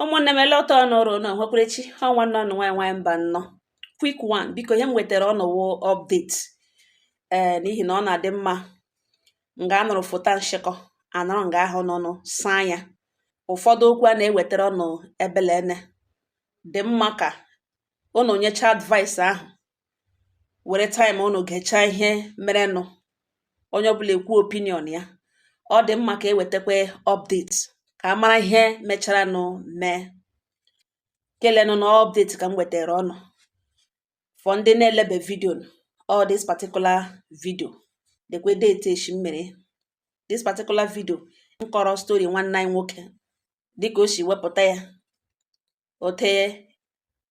ụmụnne m ele otu ụnụ rụ na nwekwarechi ọ nwanne ụnụ nwaanyị nwaanyị Mbanọ quick one biko ihe m wetara ụnụ wụ update ee eh, n'ihi na ọ na-adị mma nga a nọrọ fota nshịkọ a nọrọ nga ahụ nụ saa ya ụfọdụ okwu a na-ewetara ụnụ ebelene dị mma ka ụnụ nyecha advice ahụ were time unu gechaa ihe merenụ onye ọbụla ekwu opinion ya ọ dị mma ka e wetakwa update ka a mara ihe mecharanụ mee kelenụ na update ka m wetara ụnụ for ndị na-elebe video all this particular video dekwe date echi m mere this particular video m kọrọ story nwanne anyị nwoke dịka o si wepụta ya otu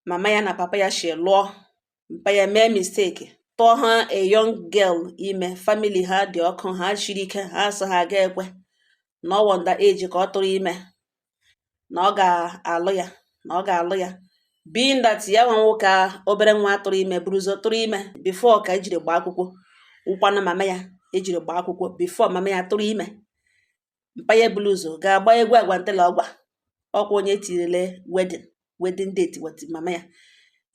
mama ya na papa ya si lụọ mpa ya mee mistake tụwa a young girl ime family ha dị ọkụ ha shiri ike ha sị ha ga ekwe na ọ wụ underage ka ọ tụrụ ime na ọ ga-alụ ya na ọ ga-alụ ya being that ya nwa nwoke obere nwa tụrụ ime buru ụzọ tụrụ ime before ka ejiri gbaa akwụkwọ wụkwanụ mama ya ejiri gbaa akwụkwọ before mama ya tụrụ ime mpa ya bulu ụzọ ga-agba egwu agwantela ọgwa ọkwa onye tirile wedding wedding date with mama ya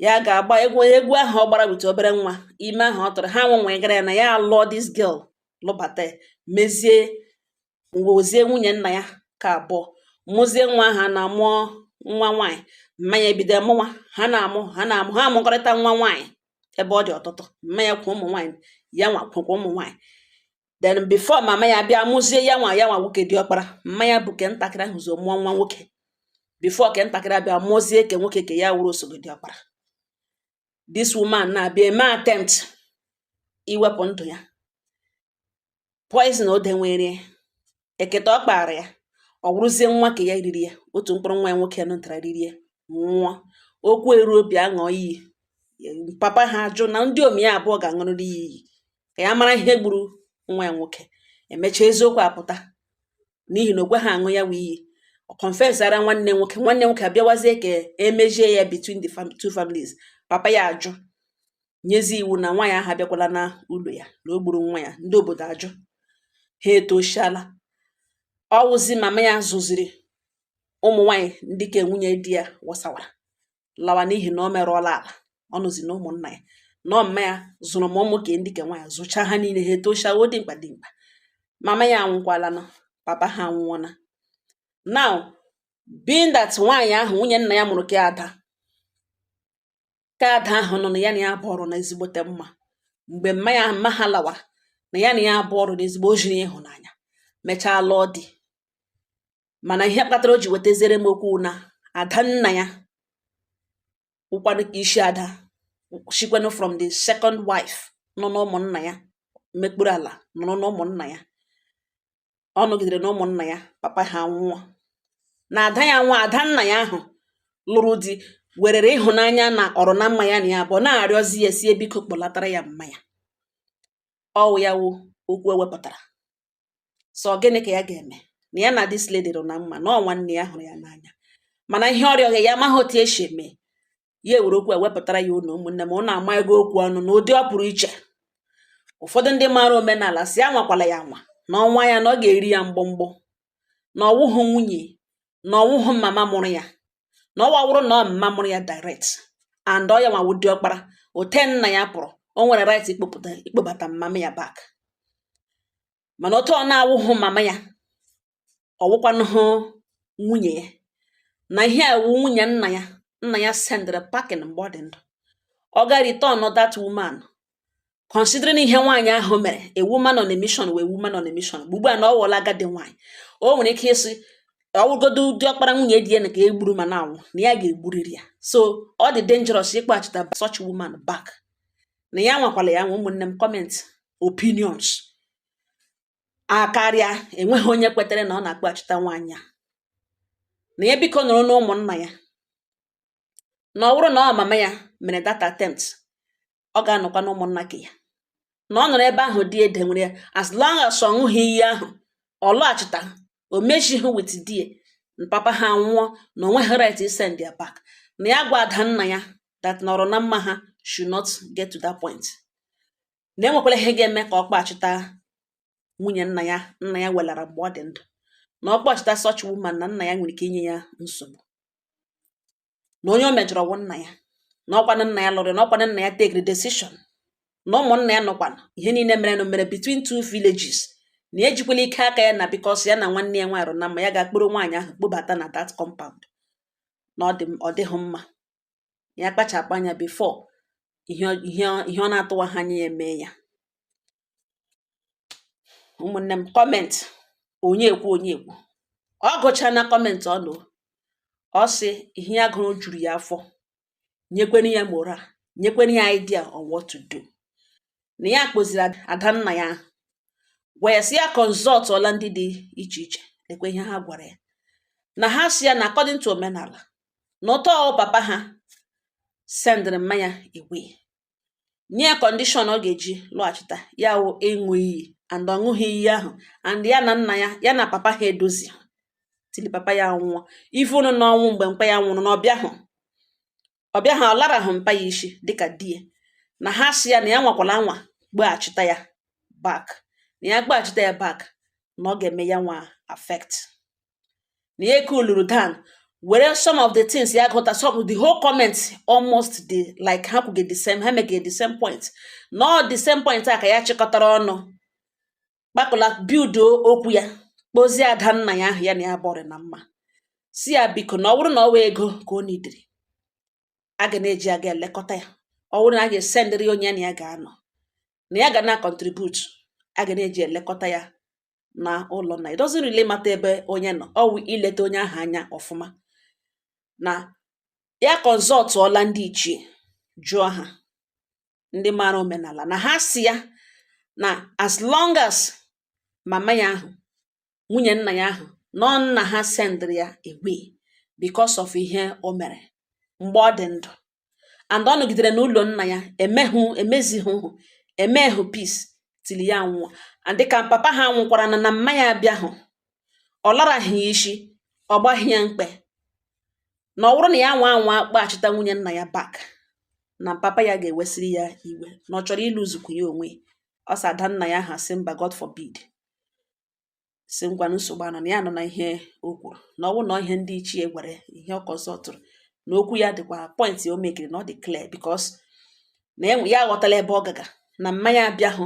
ya ga-agba egwu onye egwu ahụ ọ gbara with obere nwa ime ahụ ọ tụrụ ha nwenwe gara ya na ya alụọ this girl lụbata ya mezie wụzie nwunye nna ya ke abụọ mụzie nwa ha na mụọ nwa nwaanyị mma ya ebido mụwa ha na-amụ ha na-amụ ha amụkọrịta nwa nwaanyị ebe ọ dị ọtụtụ mma ya kwa ụmụ nwaanyị ya nwa kwụkwa ụmụ nwaanyị then before mama ya bịa mụzie ya nwa ya nwa nwoke diọkpara mma ya bu ke ntakịrị ahụ ụzọ mụọ nwa nwoke before ke ntakịrị abịa mụzie ke nwoke ke ya wụrụ osogbu diọkpara this woman na-abịa eme attempt iwepụ ndụ ya poison o tinyere eketa ọ kpaara ya ọ wụrụzie nwa ke ya riri ya otu mkpụrụ nwa ya nwoke mụtara riri ya nwụọ okwu eruo bịa ṅụọ iyi papa ha ajụ na ndiomi ya abụọ ga-aṅụrịrị ya iyi ka ya mara ihe gburu nwa ya nwoke emechaa eziokwu apụta n'ihi na o kweha aṅụ ya wụ iyi ọ confessara nwanne nwoke nwanne nwoke abịawazie ka e mezie ya between the two families papa ya ajụ nyezi iwu na nwaanyị ahụ abịakwala na ụlọ ya na o gburu nwa ya ndị obodo ajụ ha etoshala ọ wụzi mama ya zụziri ụmụ nwanyị ndị ke nwunye di ya wasawara lawa n'ihi na o merụọla ala ọ wụzi na ụmụnna ya na mma ya zụrụ ma ụmụaka ndị ke nwaanyị zụcha ha niile ha etosha wụ dimkpa dimkpa mama ya anwụkwala na papa ha anwụọna now being that nwaanyị ahụ nwunye nna ya mụrụ ke ada ka ada ahụ nọ na ya na ya abụọ rụ na ezigbote mma mgbe mma ya mma ha lawara na ya na ya abụọ rụ na ezigbo o jiri ịhụnanya mechaa lụọ di mana ihe kpatara o ji wetaziere m okwu na ada nna ya wụkwanụ ka isi ada shikwanụ from the second wife nọ n'ụmụnna ya mekpuru ala nọrọ n'ụmụnna ya ọ nọgidere na ụmụnna ya papa ha nwụọ na ada ya nwa ada nna ya ahụ lụrụ di werere ịhụnanya na ọ rụ na mma ya na ya abụọ na-arịọzi ya sị ya biko kpọlatara ya mma ya ọ wụ ya wụ okwu ewepụtara sị ọ gịnị ka ya ga-eme na ya na this lady rụ na mma na ọ nwanne ya hụrụ ya n'anya mana ihe ọ rịọgha ya amaghị otu esi eme ya ewere okwu a wepụtara ya ụnụ ụmụnne m ụnụ amago okwu ọnụ na ụdị ọ pụrụ iche ụfọdụ ndị maara omenala sị ya anwakwala ya anwa na ọ nwaa ya na ọ ga-eri ya mgbọmgbọ na ọ wụhụ nwunye na ọ wụhụ mama mụrụ ya na ọ wa wụrụ na ọ mma mụrụ ya direct and ọ ya nwa wụ diọkpara ote nna ya pụrụ o nwere right ịkpọpụta ịkpọbata mama ya back mana ote ọ na-awụhụ mama ya ọ̀ wụkwanụhụ nwunye ya na ihe a wụ nwunye nna ya nna ya sendịrị packing mgbe ọ dị ndụ ọ ga return that woman considering ihe nwaanyị ahụ mere a woman on a mission wụ a woman on a mission ugbu ugbu a na ọ wụọla agadi nwaanyị o nwere ike ịsị ọ wụgodu diọkpara nwunye di ya na ka e gburu ma na anwụ na ya ga-egburiri ya so ọ dị dangerous ịkpọghachita such woman back na ya anwakwala ya anwa ụmụnne m comment opinions akarịa enweghị onye kwetere na ọ na-akpọghachita nwaanyị a na ya biko nọrọ na ụmụnna ya na ọ wụrụ na ọ mama ya mere that attempt ọ ga-anọkwa na ụmụnna ke ya na ọ nọrọ ebe ahụ die edewere ya as long as ọ ṅụghị iyi ahụ ọ lọghachita o mezighị with di ya papa ha nwụọ na o nweghị right isend ya back na ya gwa ada nna ya that nọrọ na mma ha should not get to that point na enwekwala ihe ga-eme ka ọ kpọchita nwunye nna ya nna ya welara mgbe ọ dị ndụ na ọ kpọchita such woman na nna ya nwere ike inye ya nsogbu na onye o mejọrọ wụ nna ya na ọkwanụ nna ya lụrụ na ọkwanụ nna ya take decision na ụmụnna ya nọkwa na ihe niile mere na mere between two villages na ya ejikwala ike aka ya na because ya na nwanne ya nwaanyị na mma ya ga-akpọrọ nwaanyị ahụ kpọbata na that compound na ọ dịghị mma ya kpachapụ anya before ihe ọ na-atụwaha anya ya emee ya ụmụnne m comment onye ekwu onye ekwu ọ gụcha na comment ụnụ ọ sị ihe ya gụrụ juru ya afọ nyekwenu ya moral nyekwenu ya idea on what to do na ya kpọziri ada nna ya ahụ gwa ya si ya consultọla ndị dị iche iche lekwa ihe ha gwara ya na ha si ya na according to omenala na ụtọ papa ha sendịrị mma ya away nye ya condition ọ ga-eji lọghachita ya wụ ịṅụ iyi and ọ ṅụghị iyi ahụ and ya na nna ya ya na papa ha edozi tili papa ya nwụọ even n'ọnwụ mgbe mpa ya nwụrụ na ọ bịahụ ọ bịaha ọ larahụ mpa ya isi dịka di ya na ha sị ya na ya nwakwala anwa kpọghachita ya back na ya kpọghachita ya back na ọ ga-eme ya nwa affect na ya cooluru down were some of the things ya gụta some of the whole comments almost the like ha kwuge the same ha mege the same point nọ the same point a ka ya chịkọtara ọnụ kpakọla build okwu ya kpọzie ada nna ya ahụ ya na ya bọrị na mma sị ya biko na ọ bụrụ na ọ wụ ego ka ọ needịrị a ga na-eji aga elekọta ya ọ bụrụ na a ga-esendịrị onye ya na ya ga-anọ na ya ga na-acontribute a ga na-eji elekọta ya na ụlọ nna it doesn't really matter ebe onye nọ ọ wụ ileta onye ahụ anya ọfụma na ya consultụọla ndị ichie jụọ ha ndị maara omenala na ha sị ya na as long as mama ya ahụ nwunye nna ya ahụ nọ nna ha sendịrị ya away because of ihe o mere mgbe ọ dị ndụ and ọ nọgidere n'ụlọ nna ya emehụ emezihụ emehụ peace tili ya nwụọ and dịka papa ha nwụkwara na na mma ya abịahụ ọ laraghị ya isi ọ gbaghị ya mkpe na ọ bụrụ na ya nwa anwa kpọghachita nwunye nna ya back na papa ya ga-ewesịrị ya iwe na ọ chọrọ ịlụzukwu ya onwe ọ sị ada nna ya ha sị mba God forbid sị ngwa nsogbu anọ na ya anụna ihe o kwuru na ọ bụrụ na ihe ndị ichie gwere ihe ọ consultụrụ na okwu ya dịkwa point o mekige na ọ dị clear because na ya aghọtala ebe ọ gaga na mma ya abịahụ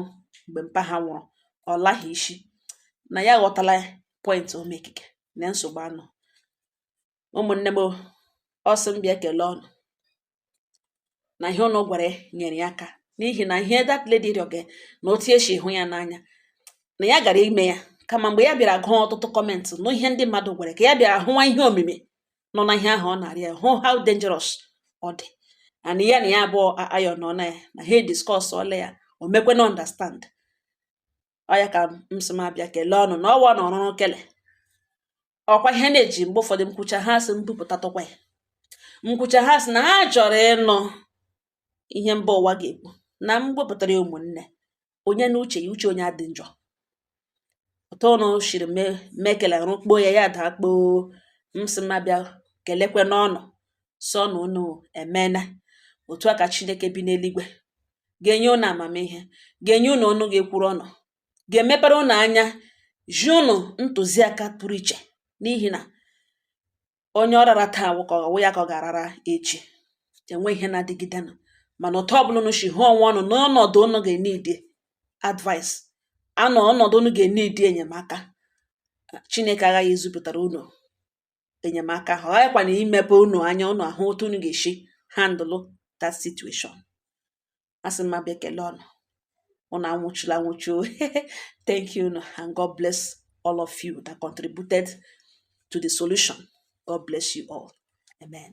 mgbe mpa ha nwụrụ ọ laghị isi na ya aghọtala point o mekige na nsogbu anọ ụmụnne m ọ sị m bịa kelee ụnụ na ihe ụnụ gwara ya nyere ya aka n'ihi na ihe that lady rịọge na otu esi hụ ya n'anya na ya gara ime ya kama mgbe ya bịara gụọ ọtụtụ comment na ihe ndị mmadụ gwara ka ya bịara hụwa ihe omimi nọ na ihe ahụ ọ na-arịọ hụ how dangerous ọ dị and ya na ya bụ ada nna ya na ha discussọla ya o mekwe na understand ọ ya ka m sị m abịa kelee ụnụ na ọwa na ọrụrụ kele ọkwa ihe na-eji mgbe ụfọdụ m kwuchaa ha sị m bupụtatụkwa ya m kwuchaa ha sị na ha chọrọ ịnụ ihe mba ụwa ga-ekwu na m wepụtara ya ụmụnne onye na uche ya uche onye adị njọ ụtọ ụnụ shiri mekele rụkpo ya ya daa kpoo m sị m abịa kelekwenụ ụnụ sị na ụnụ emena otu a ka chineke bi n'eluigwe ga-enye ụnụ amamihe ga-enye ụnụ ọnụ ga-ekwuru ụnụ ga-emepere ụnụ anya zi ụnụ ntụziaka pụrụ iche n'ihi na onye ọ rara taa ka ọ wụ ya ka ọ ga-arara echi enwe ihe na-adịgidenụ mana otu ọbụla ụnụ si hụ onwe ụnụ n'ọnọdụ ụnụ ga-enidi advice n'ọnọdụ ụnụ ga-enidi enyemaka Chineke aghaghị izipụtara ụnụ enyemaka ahụ ọ ghaghịkwana imepe ụnụ anya ụnụ ahụ otu ụnụ ga-esi handle that situation asị m abịa ekele ụnụ ụnụ anwụchula anwụchu thank you and God bless all of you that contributed to the solution God bless you all amen